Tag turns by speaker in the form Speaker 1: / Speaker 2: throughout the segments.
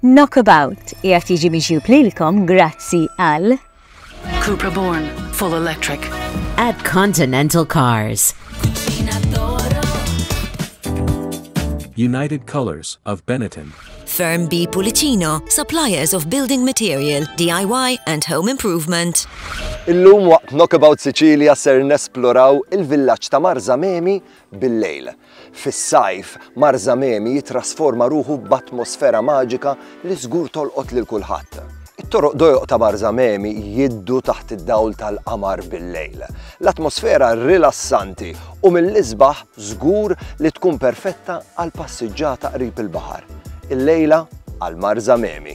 Speaker 1: Knockabout qiegħed jiġi miġjub lilkom grazzi għal Cupra
Speaker 2: Born, full electric. At
Speaker 3: Continental Cars.
Speaker 4: United Colors of Benetton. Firm B
Speaker 5: Pulicino, suppliers of building material, DIY and home improvement. Illum
Speaker 6: waqt Knockabout Sicilia ser nesploraw il-villaġġ ta' Marzamemi Bil-lejl, fis-sajf, Mar Zamemi jittrasforma ruħu b'atmosfera maġika li żgur tolqot lil kulħadd. It-toroq dojq ta' Mar Zamemi jiddu taħt id-dawl tal-qamar bil-lejl. L-atmosfera rilassanti u mill-isbaħ żgur li tkun perfetta għal passiġġata qrib il-baħar. Illejla għal Mar Zamemi.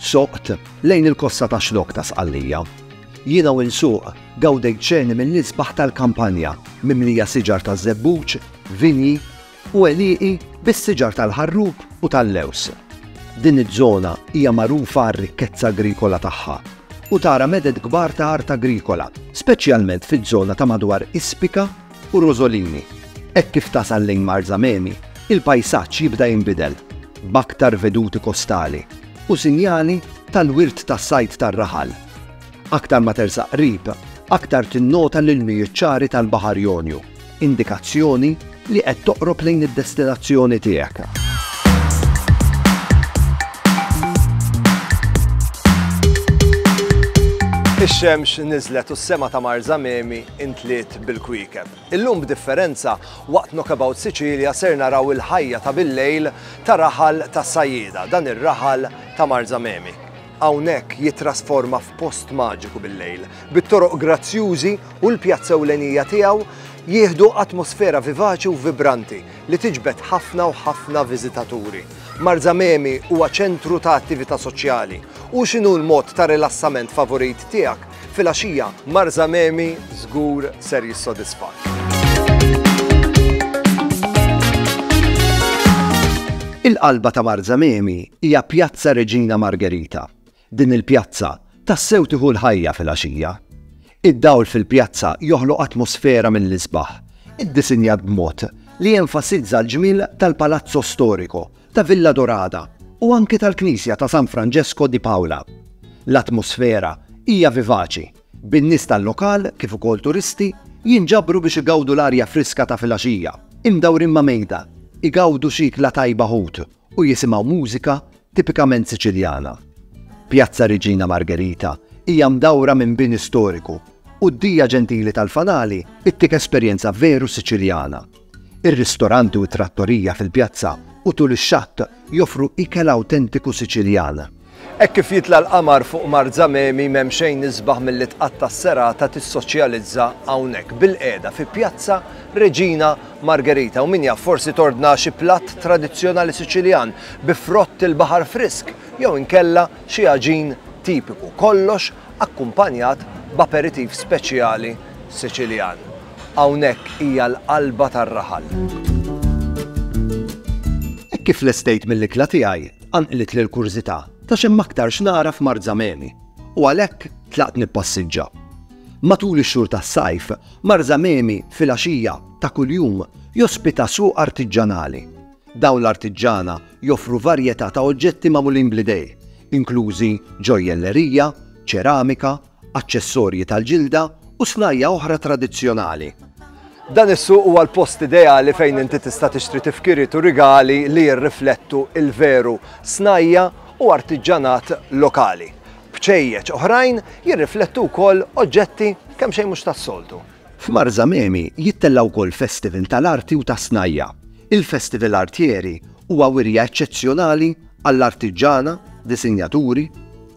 Speaker 7: Soqt lejn il-kosta ta' Xlokk ta' Sqallija. Jiena u nsuq gawdejt ċeni mill-isbaħ tal-kampanja mimlija siġar taż-żebbuġ, vinji u għelieqi bis-siġar tal-ħarrub u tal-lewż. Din iż-żona hija magħrufa għar-rikkezza agrikola tagħha u tara meded kbar ta' art agrikola, speċjalment fiż-żona ta' madwar Ispika u Rosolini. Hekk kif tasal lejn Marzamemi, il-pajsaġġ jibda jinbidel, b'aktar veduti kostali u sinjali tal-wirt tas-sajd tar-raħal. Aktar ma tersaq qrib, aktar tinnota l-ilmijiet ċari tal-Baħar Jonju, indikazzjoni li qed toqrob lejn id-destinazzjoni tiegħek.
Speaker 6: Ix-xemx niżlet u s-sema ta' Marzamemi intliet bil-kwiekeb. Illum b'differenza, waqt Knockabout Sicilia ser naraw il-ħajja ta' bil-lejl ta' raħal ta' sajjieda, dan ir-raħal ta' Marzamemi. Hawnhekk jittrasforma f'post maġiku bil-lejl, bit-toroq grazzjużi u l-pjazza ewlenija tiegħu jieħdu atmosfera vivaċi u vibranti li tiġbed ħafna u ħafna viżitaturi. Marzamemi huwa ċentru ta' attività soċjali. U x'inhu l-mod ta' rilassament favurit tiegħek? Filgħaxija, Marza Memi żgur ser jissodisfak.
Speaker 7: Il-qalba ta' Marza Memi hija Pjazza Reġina Margherita. Din il-pjazza tassew tieħu l-ħajja fil-għaxija. Id-dawl fil-pjazza joħloq atmosfera mill-isbaħ, iddisinjat b'mod li jenfasizza l-ġmiel tal-palazzo storico ta' Villa Dorada u anke tal-Knisja ta' San Franġesko di Pawla. L-atmosfera hija vivaċi, bin-nies tal-lokal kif ukoll turisti jinġabru biex igawdu l-arja friska ta' filgħaxija, imdawrin ma' mejda, igawdu xi ikla tajba ħut u jisimgħu mużika tipikament Siċiljana. Pjazza Reġina Margherita hija mdawra minn bini storiku u d-dija ġentili tal-fanali ttik esperjenza veru Siċiljana. Ir-ristoranti u t-trattorija fil-pjazza u tul ix-xatt joffru ikel awtentiku Siċiljan. Hekk kif jitla'
Speaker 6: l-qamar fuq Marzamemi m'hemm xejn isbaħ milli tqatta' s-serata tissoċjalizza hawnhekk bilqiegħda fi Pjazza Reġina Margherita u min jaf forsi tordna xi platt tradizzjonali Siċiljan bi frott il-baħar frisk jew inkella xi għaġin tipiku. Kollox akkumpanjat b'aperitiv speċjali Siċiljan. Hawnhekk hija l-qalba tar-raħal.
Speaker 7: Hekk kif lestejt mill-ikla tiegħi, qanqlitli l-kurżità ta' x'hemm aktar x'nagħraf Marzamemi, u għalhekk tlaqt nippassiġġa. Matul ix-xhur tas-sajf, Marzamemi filgħaxija ta' kuljum jospita suq artiġġanali, Dawn l-artiġġana joffru varjetà ta' oġġetti magħmulin bl-idejn, inklużi ġojjellerija, ċeramika, aċċessorji tal-ġilda u snajja' oħra tradizzjonali. Dan
Speaker 6: is-suq huwa l-post ideali fejn inti tista' tixtri tifkiriet u rigali li jirriflettu l-veru snajja' u artiġġanat lokali. Bċejjeċ oħrajn jirriflettu wkoll oġġetti kemm xejn mhux tas-soltu. F'Marzamemi
Speaker 7: jittella' wkoll festival tal-arti u tas-snajja'. Il-Festival Artieri huwa wirja eċċezzjonali għall-artiġġana, disinjaturi,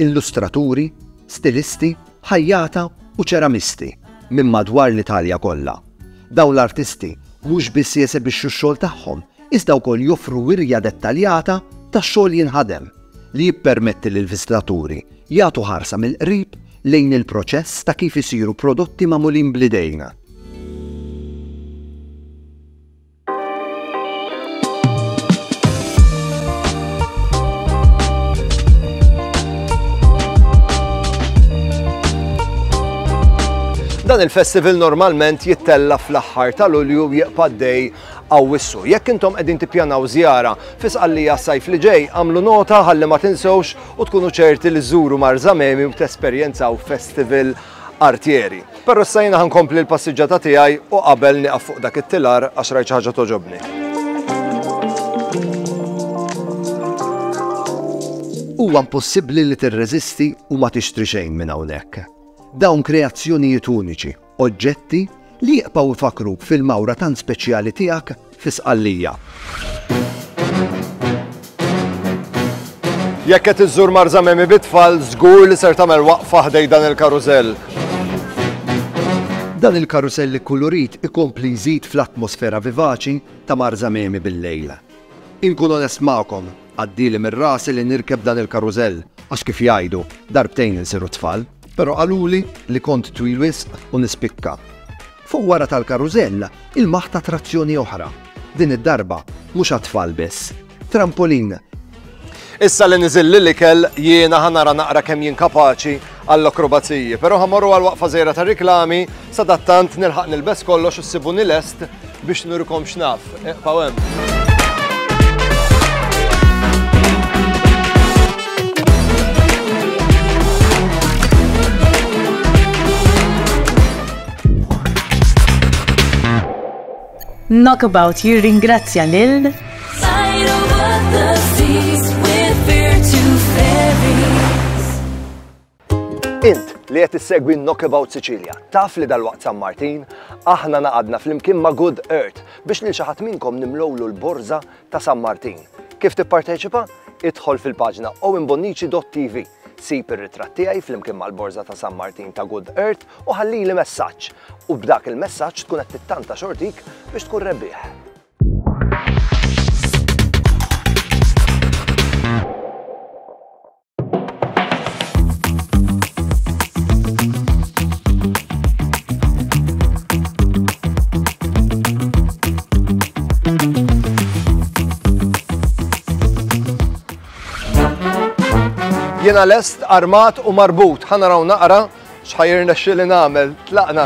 Speaker 7: illustraturi, stilisti, ħajjata u ċeramisti minn madwar l-Italja kollha. Dawn l-artisti mhux biss jesebixxu x-xogħol tagħhom iżda wkoll joffru wirja dettaljata ta' xogħol jinħadem li jippermetti lill-viżitaturi jagħtu ħarsa mill-qrib lejn il-proċess ta' kif isiru prodotti magħmulin bl-idejn.
Speaker 6: Dan il-festival normalment jittella fl-aħħar ta' Lulju jieqpa' dej għawissu. Jekk intom qegħdin tippjanaw żjara fisqallija sajf li ġej, għamlu nota ħalli ma tinsewx u tkunu ċerti li żuru Marzamemi u tesperjenzaw festival artieri. Però issa jiena ħa nkompli l-passiġġata tiegħi u qabel nieqaf fuq dak it-tilar għax rajt xi ħaġa togħġobni.
Speaker 7: Huwa impossibbli li tirreżisti u ma tixtri xejn minn hawnhekk. Dawn kreazzjonijiet uniċi, oġġetti li jibqgħu jfakkruk fil-mawra tant speċjali tiegħek fi Sqallija.
Speaker 6: Jekk qed iżżur Marzamemi bit-tfal, żgur li ser tagħmel waqfa ħdej dan il-karużell.
Speaker 7: Dan il-karużell ikkulurit ikompli jżid fl-atmosfera vivaċi ta' Marzamemi bil-lejl. Inkun onest magħkom, għaddieli mir-rasi li nirkeb dan il-karużell għax kif jgħidu, darbtejn insiru tfal. Però qaluli li kont twil wisq u nispikka. Fuq wara tal-karużell ilmaħt attrazzjoni oħra. Din id-darba mhux għat-tfal biss. Trampolin!
Speaker 6: Issa li niżilli l-ikel, jiena ħa nara naqra kemm jien kapaċi għall-akrobaziji. Però ħa mmorru għal waqfa żgħira tar-riklami Sadattant nilħaq nilbes kollox u ssibuni lest biex nurikom x'naf. Eqpaw hemm.
Speaker 1: Knockabout jirringrazzja lil
Speaker 6: Int li qed issegwi Knockabout Sicilia, taf li dalwaqt San Martin, aħna naqadna flimkien ma' Good Earth biex lil xi ħadd minnkom nimlowlu l-borża ta' San Martin. Kif tipparteċipa? Idħol fil-paġna owenbonnici.tv, sib ir-ritratt tiegħi flimkien mal-borża ta' San Martin ta' Good Earth u ħallili messaġġ. U b'dak il-messaġġ tkun qed tittanta xortik biex tkun rebbieħ. Jena lest, armat u marbut, ħana raw naqra, xħajr nexxi li namel, tlaqna.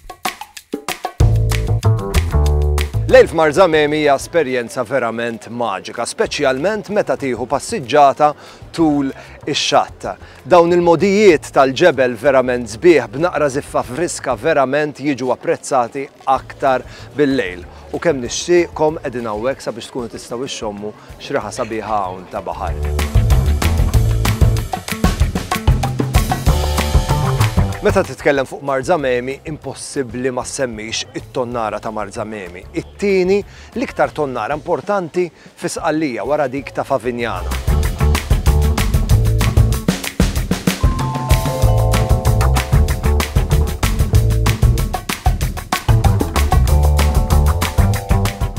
Speaker 6: Lejl f'Mar Zamemi hija esperjenza verament maġika, speċjalment meta tieħu passiġġata tul ix-xatt. Dawn il-modijiet tal-ġebel verament sbieħ b'naqra ziffa friska verament jiġu apprezzati aktar bil-lejl. U kemm nixtieqkom qegħdin hawnhekk sabiex tkunu tistgħu ixxommu x'riħa sabiħa hawn ta' baħar. Meta titkellem fuq Marzamemi, impossibbli ma semmix it-tonnara ta' Marzamemi. It-tieni, l-iktar tonnara importanti fi Sqallija wara dik ta' Favignana.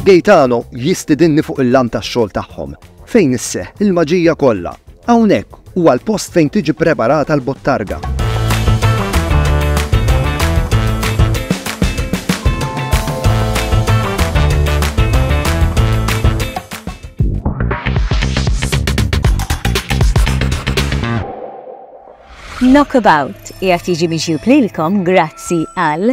Speaker 7: Gaetano jistidinni fuq il-lamp tax-xogħol tagħhom, fejn isseħħ il-maġija kollha, Hawnhekk huwa l-post fejn tiġi ppreparata l-bottarga. Knockabout
Speaker 1: qiegħed jiġi miġjub lilkom grazzi għal.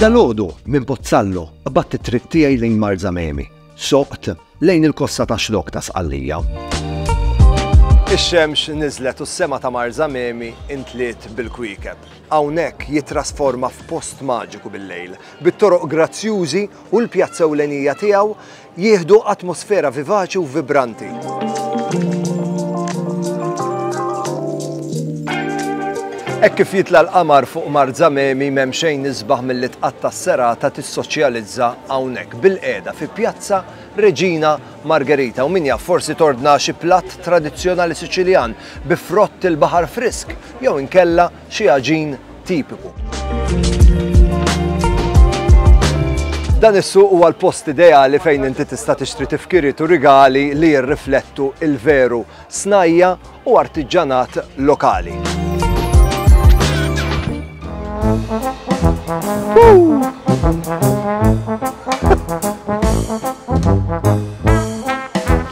Speaker 7: Dalodu minn Pozzallo batt it-triq tiegħi lejn Marzamemi, soqt lejn il-kosta ta' xlok ta' Sqallija. Ix-xemx
Speaker 6: niżlet u s-sema ta' Marzamemi intliet bil-kwiekeb. Hawnhekk jitrasforma f'post maġiku bil-lejl, bit-toroq grazzjużi u l-pjazza ewlenija tiegħu jieħdu atmosfera vivaċi u vibranti. Hekk kif jitla l-qamar fuq Mar Zamemi m'hemm xejn isbaħ milli tqatta' s-serata tissoċjalizza hawnhekk bil-qiegħda fi Pjazza Reġina Margherita u min jaf forsi tordna xi platt tradizzjonali Siċiljan bi frott il-baħar frisk jew inkella xi għaġin tipiku. Dan is-suq huwa l-post ideali fejn inti tista' tixtri tifkiriet u rigali li jirriflettu il-veru snajja u artiġġanat lokali. Woo!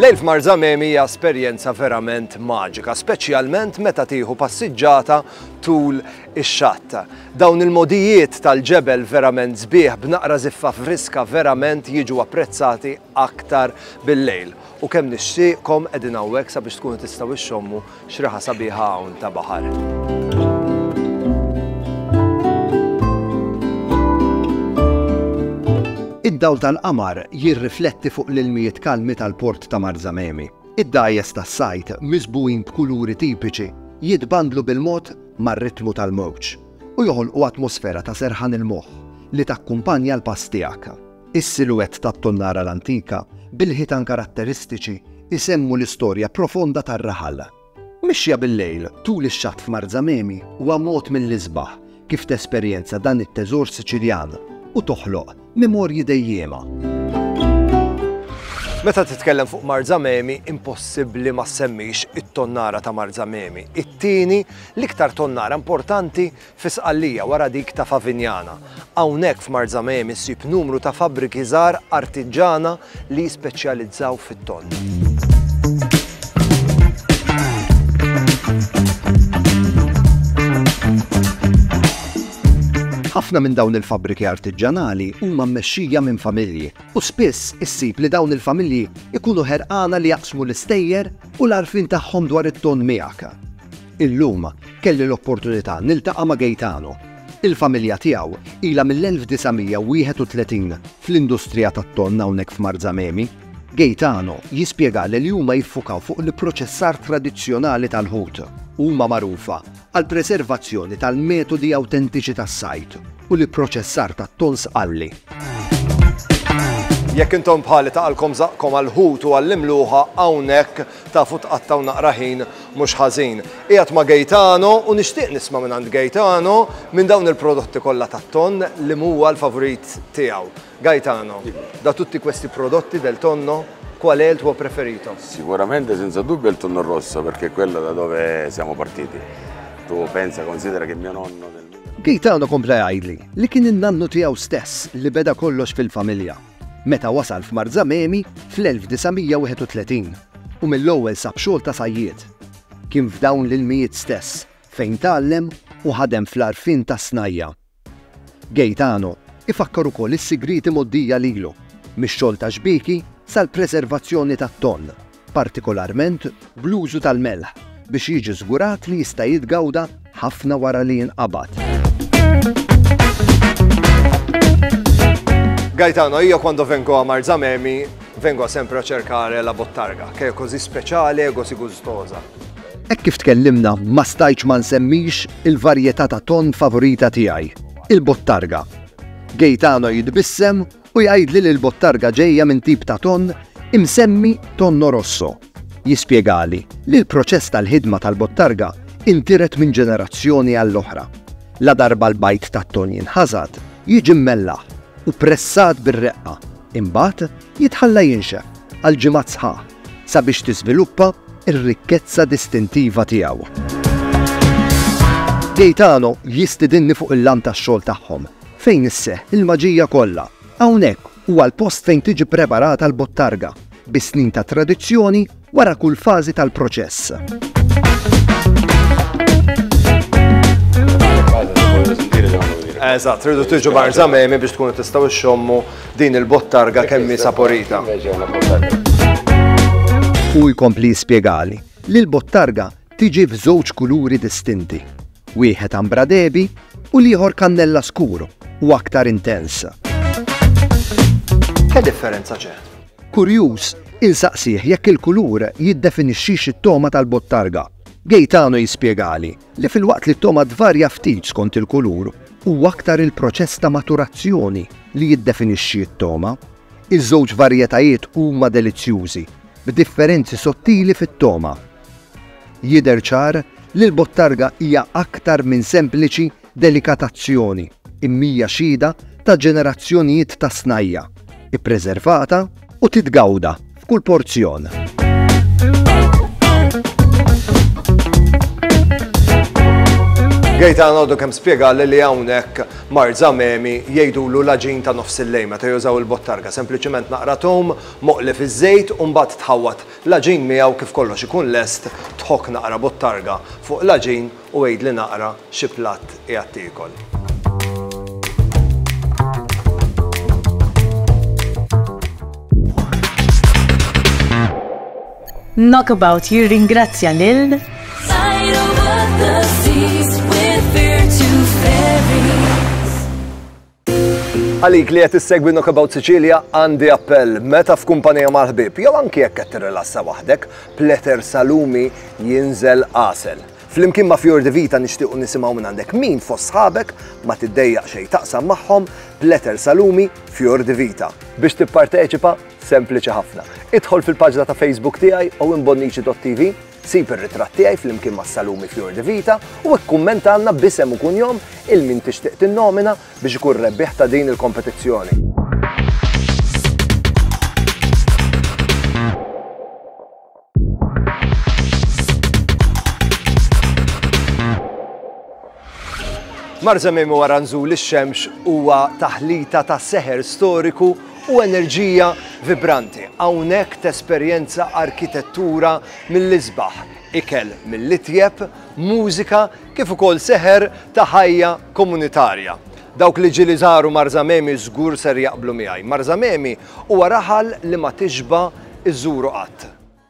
Speaker 6: Lejl f'Mar Zamemi hija esperjenza verament maġika, speċjalment meta tieħu passiġġata tul ix-xatt. Dawn il-modijiet tal-ġebel verament sbieħ b'naqra ziffa friska verament jiġu apprezzati aktar bil-lejl. U kemm nixtieqkom qegħdin hawnhekk sabiex tkunu tistgħu ixxommu X'riħa sabiħa hawn ta' baħar.
Speaker 7: Id-dawl tal-qamar jirrifletti fuq l-ilmijiet kalmi tal-port ta' Marzamemi. Id-dgħajjes tas-sajd, miżbugħin b'kuluri tipiċi, jitbandlu bil-mod mar-ritmu tal-mowġ u joħolqu atmosfera ta' serħan il-moħħ li takkumpanja l-pass tiegħek. Is-siluwett tat-tonnara l-antika, bil-ħitan karatteristiċi, isemmu l-istorja profonda tar-raħal. Mixja bil-lejl tul ix-xatt f'Marzamemi huwa mod mill-isbaħ kif tesperjenza dan it-teżor Siċiljan u toħloq memorji dejjiema.
Speaker 6: Meta titkellem fuq Marzamemi, impossibbli ma semmix it-tonnara ta' Marzamemi. It-tieni, l-iktar tonnara importanti fi Sqallija wara dik ta' Favignana. Hawnhekk f'Marzamemi ssib numru ta' fabbriki żgħar artiġġana li jispeċjalizzaw fit-tonn.
Speaker 7: Ħafna minn dawn il-fabbriki artiġġanali huma mmexxija minn familji u spiss issib li dawn il-familji jkunu ħerqana li jaqsmu l-istejjer u l-għarfien tagħhom dwar it-tonn miegħek. Illum kelli l-opportunità niltaqa' ma' Gaetano. Il-familja tiegħu ilha mill-1931 fl-industrija tat-tonn hawnhekk f'Marzamemi. Gaetano jispjegali li huma jiffukaw fuq l-ipproċessar tradizzjonali tal-ħut. Huma magħrufa għall-preservazzjoni tal-metodi awtentiċi tas-sajd u l-ipproċessar tat-tonn sqalli.
Speaker 6: Jekk intom bħali taqalkom żaqqkom għall-ħut u għall-imluħa hawnhekk, Tafu tqattgħu naqra ħin mhux ħażin. Qiegħed ma' Gaetano u nixtieq nisma' mingħand Gaetano minn dawn il-prodotti kollha tat-tonn li m'huwa l-favorit tiegħu. Gaetano, da tutti questi prodotti del tonno, qual è il tuo preferito? Sicuramente senza
Speaker 8: dubbio il tonno rosso perché è quello da dove siamo partiti. Tu pensa, considera che mio nonno nel. Gaetano kompla
Speaker 7: jgħidli li kien in-nannu tiegħu stess li beda kollox fil-familja. meta wasal f'Marzamemi fl-1931 u mill-ewwel sab xogħol ta' sajjied. Kien f'dawn l-ilmijiet stess fejn tgħallem u ħadem fl-għarfien tas-snajja'. Gaetano jfakkar ukoll is-sigrieti mgħoddija lilu mix-xogħol tax-xbieki sal-preservazzjoni tat-tonn. partikolarment bl-użu tal-melħ biex jiġi żgurat li jista' jitgawda ħafna wara li jinqabad.
Speaker 6: Gaetano, io quando vengo a Marzamemi vengo sempre a cercare la bottarga, che è così speciale e così gustosa. Hekk kif
Speaker 7: tkellimna ma stajċ ma nsemmix il-varjetà ta' ton favorita tiegħi, il-bottarga. Gaetano jitbissem u jgħidli li l-bottarga ġejja minn tip ta' tonn imsemmi Tonno Rosso. Jispjegali li l-proċess tal-ħidma tal-bottarga intiret minn ġenerazzjoni għall-oħra. Ladarba l-bajd tat-tonn jinħasad, jiġi mmellaħ u pressat bir-reqqa, imbagħad jitħalla jinxef għal ġimgħat sħaħ sabiex tiżviluppa r-rikkezza distintiva tiegħu. Gaetano jistidinni fuq il-lamp tax-xogħol tagħhom. Fejn isseħħ il-maġija kollha. Hawnhekk huwa l-post fejn tiġi ppreparata l-bottarga, bi snin ta' tradizzjoni wara kull fażi tal-proċess.
Speaker 6: Eżatt, tridu tiġu barżamemi biex tkunu tistgħu xxommu din il-bottarga kemm saporita.
Speaker 7: U jkompli spjegali li l-bottarga tiġi f'żewġ kuluri distinti. wieħed Ambra Debi u l-ieħor Cannella Scuro u aktar intens.
Speaker 6: Ke differenza ċe? Kurjuż,
Speaker 7: insaqsih jekk il-kulur jiddefinixxix it-togħma tal-bottarga. Gaetano jispjegali li filwaqt li t-togħma tvarja ftit skont il-kulur huwa aktar il-proċess ta' maturazzjoni li jiddefinixxi t-togħma. Iż-żewġ varjetajiet huma delizzjużi, b'differenzi sottili fit-togħma. Jidher ċar li l-bottarga hija aktar minn sempliċi delikatazzjoni imija xhieda ta' ġenerazzjonijiet ta' snajja', ippreservata u titgawda f'kull porzjon.
Speaker 6: Gaetano għadu kemm spjegali li hawnhekk Mar Zamemi jgħidulu l-aġin ta' nofs il-lejl meta jużaw il-bottarga, sempliċiment naqra tom, moqli fiż-żejt u mbagħad tħawwad L-għaġin miegħu kif kollox ikun lest, tħokk naqra bottarga fuq l-għaġin u għidli naqra xi platt qiegħed tiekol.
Speaker 1: Knockabout jirringrazzja lil
Speaker 6: Għalik li qed issegwi Knockabout Sicilia għandi appell meta f'kumpanija mal-ħbieb jew anki jekk qed tirrilassa waħdek, pleter salumi jinżel għasel. Flimkien ma' Fjor de Vita nixtiequ nisimgħu minn għandek min fost sħabek ma tiddejjaq xejn taqsam magħhom pleter salumi Fjor de Vita. Biex tipparteċipa, sempliċi ħafna. Idħol fil-paġna ta' Facebook tiegħi u imbonniċi.tv Sib ir-ritratt tiegħi flimkien mas-salumi Fior di Vita u ikkummentalna b'isem u kunjom il min tixtieq tinnomina biex ikun rebbieħ ta' din il-kompetizzjoni. Marzamemi wara nżul ix-xemx huwa taħlita ta' seħer storiku u enerġija vibranti. Hawnhekk tesperjenza arkitettura mill-isbaħ, ikel mill-itjeb, mużika kif ukoll seħer ta' ħajja komunitarja. Dawk li ġieli żaru Marzamemi żgur ser jaqblu miegħi. Marzamemi huwa raħal li ma tixba' iżżuru qatt.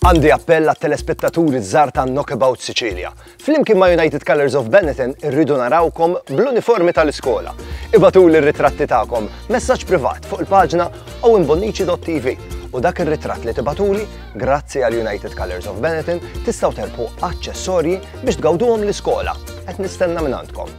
Speaker 5: Għandi
Speaker 6: appell għat telespettaturi żgħar ta' Knockabout Sicilia. Flimkien ma' United Colors of Benetton irridu narawkom bl-uniformi tal-iskola. Ibatu l ritratti tagħkom messaġġ privat fuq il-paġna owenbonnici.tv u dak ir-ritratt li tibatuli grazzi għal United Colors of Benetton tistgħu terpu aċċessorji biex tgawduhom l-iskola. Qed nistenna minn għandkom.